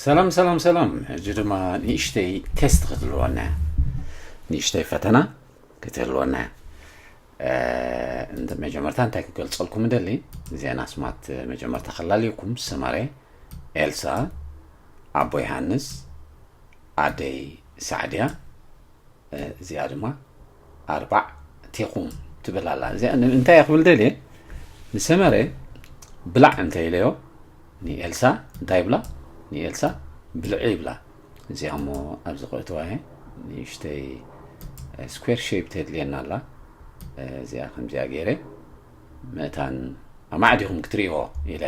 ሰላም ሰላም ሰላም ሕጂ ድማ ንእሽተይ ቴስት ክትህልወና እያ ንእሽተይ ፈተና ክትህልወና እያ እንተ መጀመርታ እንታይ ክገልጸልኩም እደሊ ዜና ስማት መጀመርታ ከላልየኩም ሰመረ ኤልሳ ኣቦ ዮሃንስ ኣደይ ሳዕድያ እዚኣ ድማ ኣርባዕቴኹም ትብል ኣላ እዚኣ እንታይ እየ ክብል ደልየ ንሰመረ ብላዕ እንተ ኢለዮ ንኤልሳ እንታይ ይብላ ንኤልሳ ብልዒ ይብላ እዚኣ እሞ ኣብዚ ክእትዋ እየ ንእሽተይ ስኩዌር ሸፕ ተድልየና ኣላ እዚኣ ከምዚኣ ገይረ ምእታን ኣማዕዲኹም ክትሪእዎ ኢለ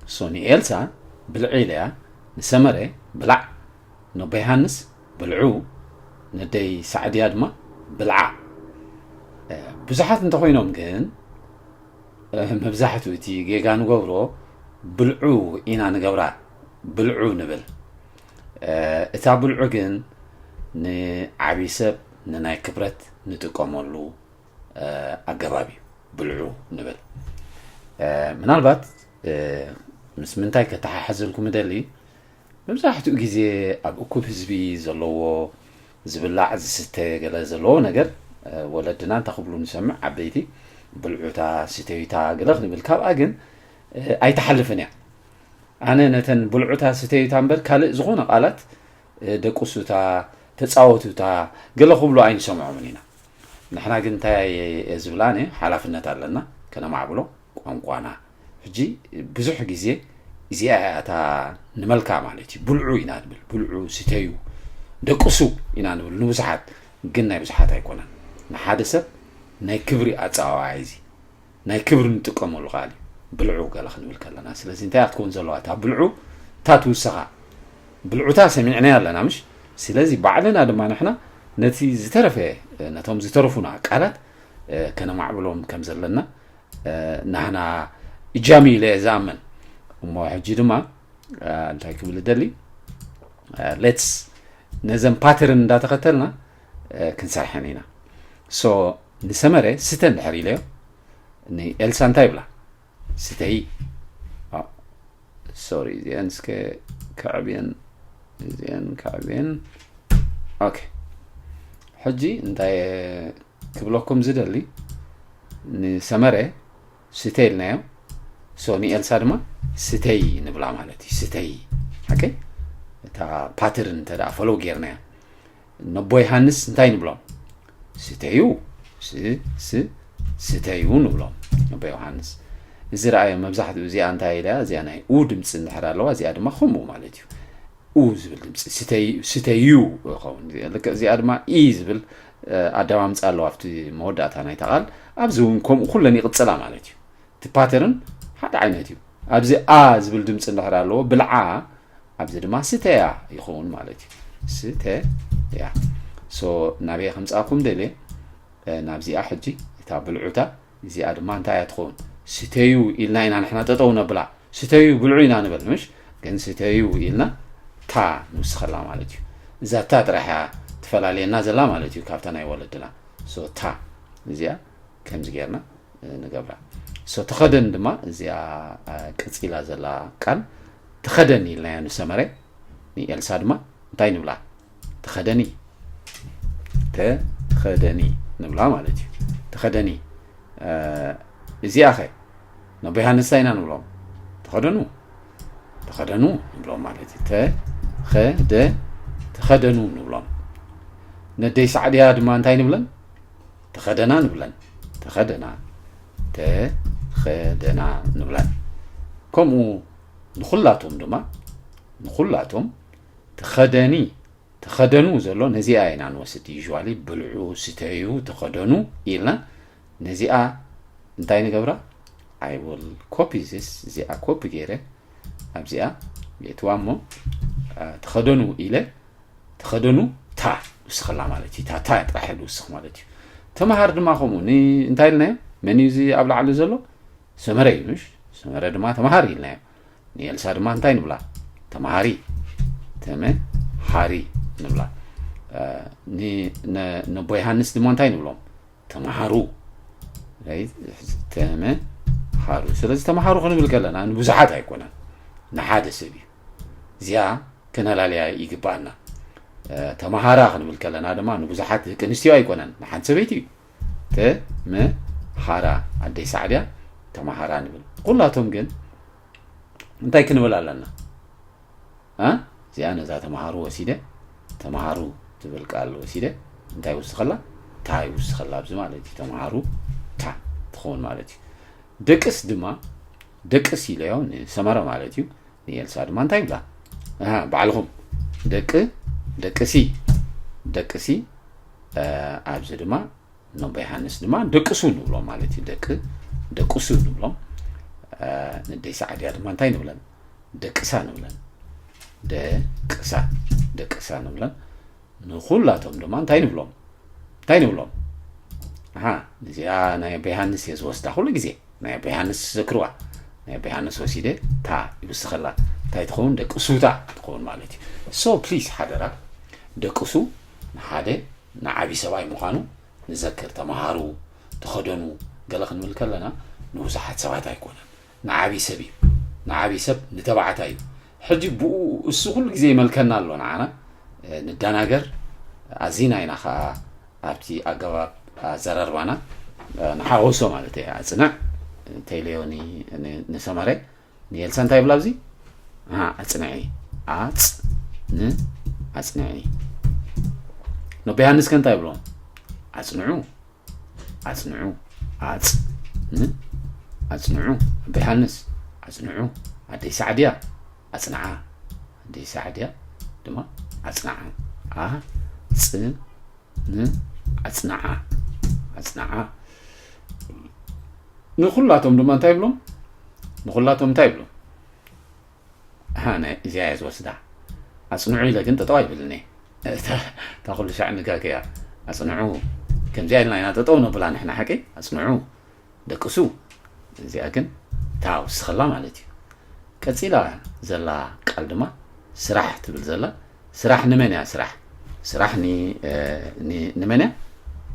እሶ ንኤልሳ ብልዒ ኢለያ ንሰመረ ብላዕ ነቦ የሃንስ ብልዑ ነደይ ሳዕድያ ድማ ብልዓ ብዙሓት እንተኾይኖም ግን መብዛሕትኡ እቲ ጌጋ ንገብሮ ብልዑ ኢና ንገብራ ብልዑ ንብል እታ ብልዑ ግን ንዓብይ ሰብ ንናይ ክብረት ንጥቀመሉ ኣገባብ እዩ ብልዑ ንብል ምናልባት ምስ ምንታይ ከተሓሕዘልኩም እደሊ መብዛሕትኡ ግዜ ኣብ እኩብ ህዝቢ ዘለዎ ዝብላዕ ዝስተ ገለ ዘለዎ ነገር ወለድና እንተ ክብሉ ንሰምዕ ዓበይቲ ብልዑታ ስተዩታ ገለ ክንብል ካብኣ ግን ኣይትሓልፍን እያ ኣነ ነተን ብልዑታ ስተዩታ እምበር ካልእ ዝኾነ ቃላት ደቁሱታ ተጻወቱታ ገለ ክብሉ ኣይንሰምዖምን ኢና ንሕና ግን እንታይ ዝብላነ ሓላፍነት ኣለና ከነማዕብሎ ቋንቋና ሕጂ ብዙሕ ግዜ እዚኣ እያ እታ ንመልካ ማለት እዩ ብልዑ ኢና ንብል ብልዑ ስተዩ ደቅሱ ኢና ንብል ንብዙሓት ግን ናይ ብዙሓት ኣይኮነን ንሓደ ሰብ ናይ ክብሪ ኣፀዋዋያ እዚ ናይ ክብሪ ንጥቀመሉ ቃል እዩ ብልዑ ገለ ክንብል ከለና ስለዚ እንታይ እያ ክትከውን ዘለዋ እታ ብልዑ እታ ትውሰኻ ብልዑታ ሰሚዕናያ ኣለና ምሽ ስለዚ ባዕልና ድማ ንሕና ነቲ ዝተረፈ ነቶም ዝተረፉና ቃላት ከነማዕብሎም ከም ዘለና ናህና እጃም ኢለ እየ ዝኣምን እሞ ሕጂ ድማ እንታይ ክብል እደሊ ሌትስ ነዘን ፓተርን እንዳተኸተልና ክንሰርሐን ኢና ሶ ንሰመረ ስተ እንድሕር ኢለዮ ንኤልሳ እንታይ ይብላ ስተይ ሶሪ እዚኤን እስከ ከዕብየን እዚኤን ከዕብየን ኦኬ ሕጂ እንታይ ክብለኩም ዝደሊ ንሰመረ ስተ ኢልናዮ ሶ ንኤልሳ ድማ ስተይ ንብላ ማለት እዩ ስተይ ሓቂ እታ ፓትርን እንተ ፈለው ጌርናያ ነቦ ዮሃንስ እንታይ ንብሎም ስተዩ ስተዩ ንብሎም ነቦ ዮሃንስ እዚ ረኣዮ መብዛሕትኡ እዚኣ እንታይ ኢያ እዚኣ ናይ ኡ ድምፂ እንድሕር ኣለዋ እዚኣ ድማ ከምኡ ማለት እዩ ኡ ዝብል ድምፂ ስተዩ ይኸውን ልክዕ እዚኣ ድማ ኢ ዝብል ኣደማምፃ ኣለዋ ኣብቲ መወዳእታ ናይታ ቃል ኣብዚ እውን ከምኡ ኩለን ይቕፅላ ማለት እዩ እቲ ፓተርን ሓደ ዓይነት እዩ ኣብዚ ኣ ዝብል ድምፂ እንድሕር ኣለዎ ብልዓ ኣብዚ ድማ ስተያ ይኸውን ማለት እዩ ስተያ ሶ ናበየ ከምፃኩም ደልየ ናብዚኣ ሕጂ እታ ብልዑታ እዚኣ ድማ እንታይ እያ ትኸውን ስተዩ ኢልና ኢና ንሕና ጠጠው ነብላ ስተዩ ብልዑ ኢና ንበል ምሽ ግን ስተዩ ኢልና ታ ንውስኸላ ማለት እዩ እዛ ታ ጥራሕ እያ ትፈላለየና ዘላ ማለት እዩ ካብታ ናይ ወለድና ታ እዚኣ ከምዚ ጌርና ንገብራ ሶ ተኸደን ድማ እዚኣ ቀፂላ ዘላ ቃል ተኸደኒ ኢልናዮ ንሰመረ ንኤልሳ ድማ እንታይ ንብላ ተኸደኒ ተኸደኒ ንብላ ማለት እዩ ተኸደኒ እዚኣ ኸ ነቦ ዮሃንስ ኢና ንብሎም ተኸደኑ ተኸደኑ ንብሎም ማለት እዩ ተኸደ ተኸደኑ ንብሎም ነደይ ሳዕድያ ድማ እንታይ ንብለን ተኸደና ንብለን ተኸደና ተኸደና ንብለን ከምኡ ንኹላቶም ድማ ንኹላቶም ተኸደኒ ተኸደኑ ዘሎ ነዚኣ ኢና ንወስድ ዩዋሊ ብልዑ ስተዩ ተኸደኑ ኢልና ነዚኣ እንታይ ንገብራ ኣይ ል ኮፒ ዚስ እዚኣ ኮፒ ገይረ ኣብዚኣ ቤትዋ እሞ ተኸደኑ ኢለ ተኸደኑ ታዕ ውስኸላ ማለት እዩ ታዕ ጥራሕ ኢሉ ውስኽ ማለት እዩ ተምሃር ድማ ከምኡ እንታይ ኢልናዮ መን እዩ እዚ ኣብ ላዕሊ ዘሎ ሰመረ እዩ ምሽ ሰመረ ድማ ተምሃር ኢልናዮ ንኤልሳ ድማ እንታይ ንብላ ተምሃሪ ተምሃሪ ንብላ ነቦ ዮሃንስ ድማ እንታይ ንብሎም ተምሃሩ ተምሃሩ ስለዚ ተምሃሩ ክንብል ከለና ንብዙሓት ኣይኮነን ንሓደ ሰብ እዩ እዚኣ ክነላለያ ይግባኣና ተምሃራ ክንብል ከለና ድማ ንብዙሓት ደቂ ኣንስትዮ ኣይኮነን ንሓንቲ ሰበይቲ እዩ ተምሃራ ኣደይ ሳዕብያ ተምሃራ ንብል ኩላቶም ግን እንታይ ክንብል ኣለና እ እዚኣ ነዛ ተማሃሩ ወሲደ ተማሃሩ ትብል ቃል ወሲደ እንታይ ይውስኸላ ታ ይውስኸላ ኣብዚ ማለት እዩ ተማሃሩ ታ ትኸውን ማለት እዩ ደቅስ ድማ ደቅስ ኢለዮ ንሰመረ ማለት እዩ ንኤልሳ ድማ እንታይ ይብላ ባዕልኹም ደቂ ደቅሲ ደቅሲ ኣብዚ ድማ ነቦ ዮሃንስ ድማ ደቅሱ ንብሎም ማለት እዩ ደቂ ደቅሱ ንብሎም ንደይ ሰዓድያ ድማ እንታይ ንብለን ደቅሳ ንብለን ደቅሳ ደቅሳ ንብለን ንኩላቶም ድማ እንታይ ንብሎም እንታይ ንብሎም ኣሃ እዚኣ ናይ ኣቦ ዮሃንስ እየ ዝወስዳ ኩሉ ግዜ ናይ ኣቦ ዮሃንስ ዘክርዋ ናይ ኣቦ ዮሃንስ ወሲደ እታ ይውስኸላ እንታይ ትኸውን ደቂ ሱታ ትኸውን ማለት እዩ ሶ ፕሊዝ ሓደራ ደቅሱ ንሓደ ንዓቢ ሰብኣይ ምዃኑ ንዘክር ተማሃሩ፣ ተኸደኑ ገለ ክንብል ከለና ንብዙሓት ሰባት ኣይኮነን ንዓቢ ሰብ እዩ ንዓቢ ሰብ ንተባዕታይ እዩ ሕጂ ብኡ እሱ ኩሉ ግዜ ይመልከና ኣሎ ንዓና ንደናገር ኣዚና ኢና ከኣ ኣብቲ ኣገባብ ኣዘራርባና ንሓወሶ ማለት እየ ኣጽንዕ ቴሌዮኒ ንሰመረ ንኤልሳ እንታይ ይብላ ኣብዚ ኣፅንዒ ኣፅን ኣፅንዒ ነቦ ዮሃንስ ከ እንታይ ይብሎ ኣፅንዑ ኣፅንዑ ኣፅ ን ኣፅንዑ ኣቦ ዮሃንስ ኣፅንዑ ኣደይ ሳዕድያ ኣፅንዓ ኣደይ ሳዕድያ ድማ ኣፅንዓ ኣ ፅ ኣፅናዓ ኣፅናዓ ንኩላቶም ድማ እንታይ ይብሎም ንኩላቶም እንታይ ይብሎም እዚኣ እየ ዝወስዳ ኣፅንዑ ኢለ ግን ጠጠው ኣይብልን እታ ኩሉ ሻዕ ንጋገያ ኣፅንዑ ከምዚኣ ኢልና ኢና ጠጠው ነብላ ንሕና ሓቂ ኣፅንዑ ደቅሱ እዚኣ ግን እታ ወስኸላ ማለት እዩ ቀጺላ ዘላ ቃል ድማ ስራሕ ትብል ዘላ ስራሕ ንመን እያ ስራሕ ስራሕ ንመን እያ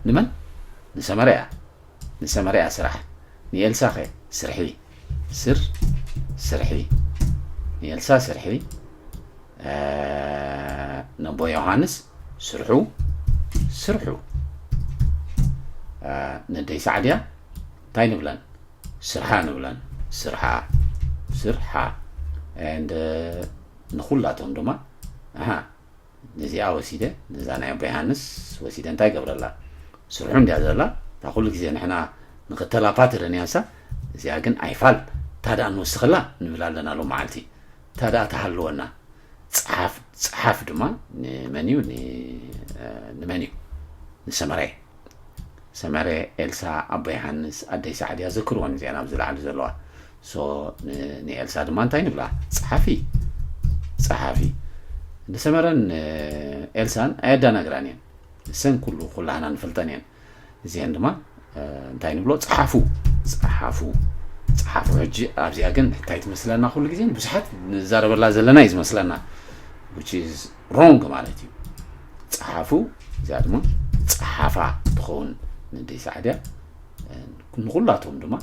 ንመን ንሰመረ እያ ንሰመረ እያ ስራሕ ንኤልሳ ኸ ስርሒ ስር ስርሒ ንኤልሳ ስርሒ ነቦ ዮሃንስ ስርሑ ስርሑ ነደይ ሳዕድያ እንታይ ንብለን ስርሓ ንብለን ስርሓ ስርሓ and ንኩላቶም ድማ ኣሃ ነዚኣ ወሲደ ነዛ ናይ ኣቦ ዮሃንስ ወሲደ እንታይ ገብረላ ስርሑ እንድያ ዘላ እታ ኩሉ ግዜ ንሕና ንኽተላ ፓትርን እያንሳ እዚኣ ግን ኣይፋል ታደኣ ንወስኸላ ንብል ኣለና ሎ መዓልቲ ታድኣ ተሃልወና ጸሓፍ ጸሓፍ ድማ ንመን እዩ ን ንመን እዩ ንሰመሬ ሰመሬ ኤልሳ ኣቦ የሃንስ ኣደይ ሰዓድ እያ ዘክርወን እዚኣን ኣብዚ ላዕሊ ዘለዋ ሶ ንኤልሳ ድማ እንታይ ንብላ ጸሓፊ ጸሓፊ ንሰመረን ኤልሳን ኣየዳናግራን እየን እሰን ኩሉ ኩላህና ንፈልጠን እየን እዚኤን ድማ እንታይ ንብሎ ፀሓፉ ፀሓፉ ፀሓፉ ሕጂ ኣብዚኣ ግን እንታይ ትመስለና ኩሉ ግዜ ብዙሓት ንዛረበላ ዘለና እዩ ዝመስለና ሮንግ ማለት እዩ ፀሓፉ እዚኣ ድማ ፀሓፋ ትኸውን ንደይ ሳዕድያ ንኩላቶም ድማ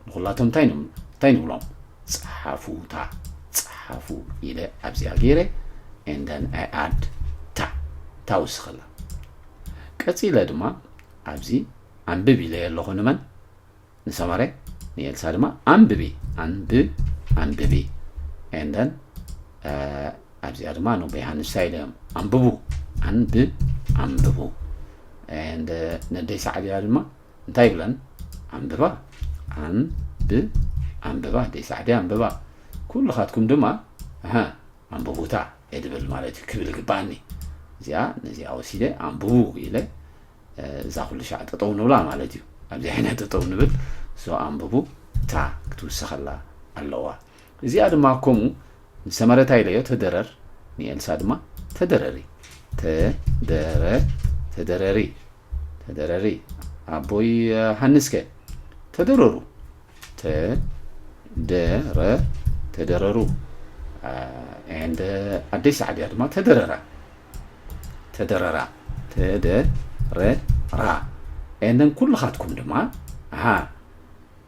ንኩላቶም እንታይ እንታይ ንብሎም ፀሓፉታ ፀሓፉ ኢለ ኣብዚኣ ገይረ ኤንደን ኣይ ኣድ ታ ታውስኸላ ቀጺለ ድማ ኣብዚ ኣንብብ ኢለዮ ኣለኹ ንመን ንሰመረ ንኤልሳ ድማ ኣንብቢ ኣንብ ኣንብቢ ኤንደን ኣብዚኣ ድማ ን ዮሃንስ እንታይ ኢሎም ኣንብቡ ኣንብ ኣንብቡ ኤንድ ነደይ ሰዓብያ ድማ እንታይ ይብለን ኣንብባ ኣንብ ኣንብባ ደይ ሰዓብያ ኣንብባ ኩልኻትኩም ድማ ኣንብቡታ እድብል ማለት እዩ ክብል ይግበኣኒ እዚኣ ነዚኣ ወሲደ ኣንብቡ ኢለ እዛ ኩሉ ሻዕ ጠጠው ንብላ ማለት እዩ ኣብዚ ዓይና ጠጠው ንብል እዞ ኣንብቡ እታ ክትውሰኸላ ኣለዋ እዚኣ ድማ ከምኡ ንሰመረታ ኢለዮ ተደረር ንኤልሳ ድማ ተደረሪ ተደረ ተደረሪ ተደረሪ ኣቦይ ሃንስከ ተደረሩ ተ ደ ረ ተደረሩ and ኣደይ ሳዕድያ ድማ ተደረራ ተደረራ ተደ ረ ራ and then ኩልኻትኩም ድማ ኣሃ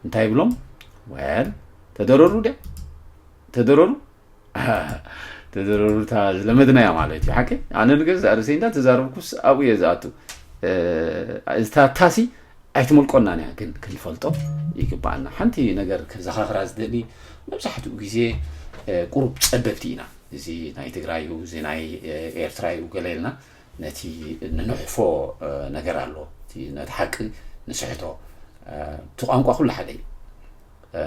እንታይ ይብሎም ወል ተደረሩ ድያ ተደረሩ ተዘረሩታ ዝለመድናያ ማለት እዩ ሓቂ ኣነ ንገዛእ ርእሰይ እንዳ ተዛረብኩስ ኣብኡ እየ ዝኣቱ እታታሲ ኣይትመልቆናን እያ ግን ክንፈልጦ ይግባኣና ሓንቲ ነገር ከዘኻኽራ ዝደሊ መብዛሕትኡ ግዜ ቁሩብ ፀበብቲ ኢና እዚ ናይ ትግራይ እዩ እዚ ናይ ኤርትራ እዩ ገለ ኢልና ነቲ ንንሕፎ ነገር ኣሎ ነቲ ሓቂ ንስሕቶ እቲ ቋንቋ ኩሉ ሓደ እዩ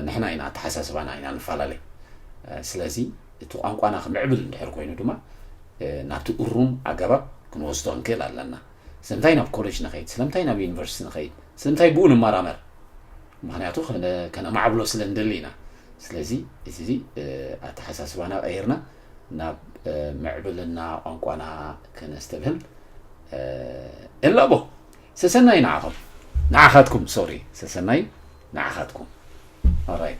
ንሕና ኢና ኣተሓሳስባና ኢና ንፈላለ ስለዚ እቲ ቋንቋና ክምዕብል እንድሕር ኮይኑ ድማ ናብቲ እሩም ኣገባብ ክንወስዶ ንክእል ኣለና ስለምንታይ ናብ ኮሌጅ ንኸይድ ስለምንታይ ናብ ዩኒቨርሲቲ ንኸይድ ስለምንታይ ብኡ ንመራመር ምክንያቱ ከነማዕብሎ ስለ ንደሊ ኢና ስለዚ እዚ ኣተሓሳስባና ቀይርና ናብ ምዕብልና ቋንቋና ከነስተብህል እላቦ ሰሰናዩ ንዓኹም ንዓኻትኩም ሶሪ ሰሰናዩ ንዓኻትኩም ኦራይት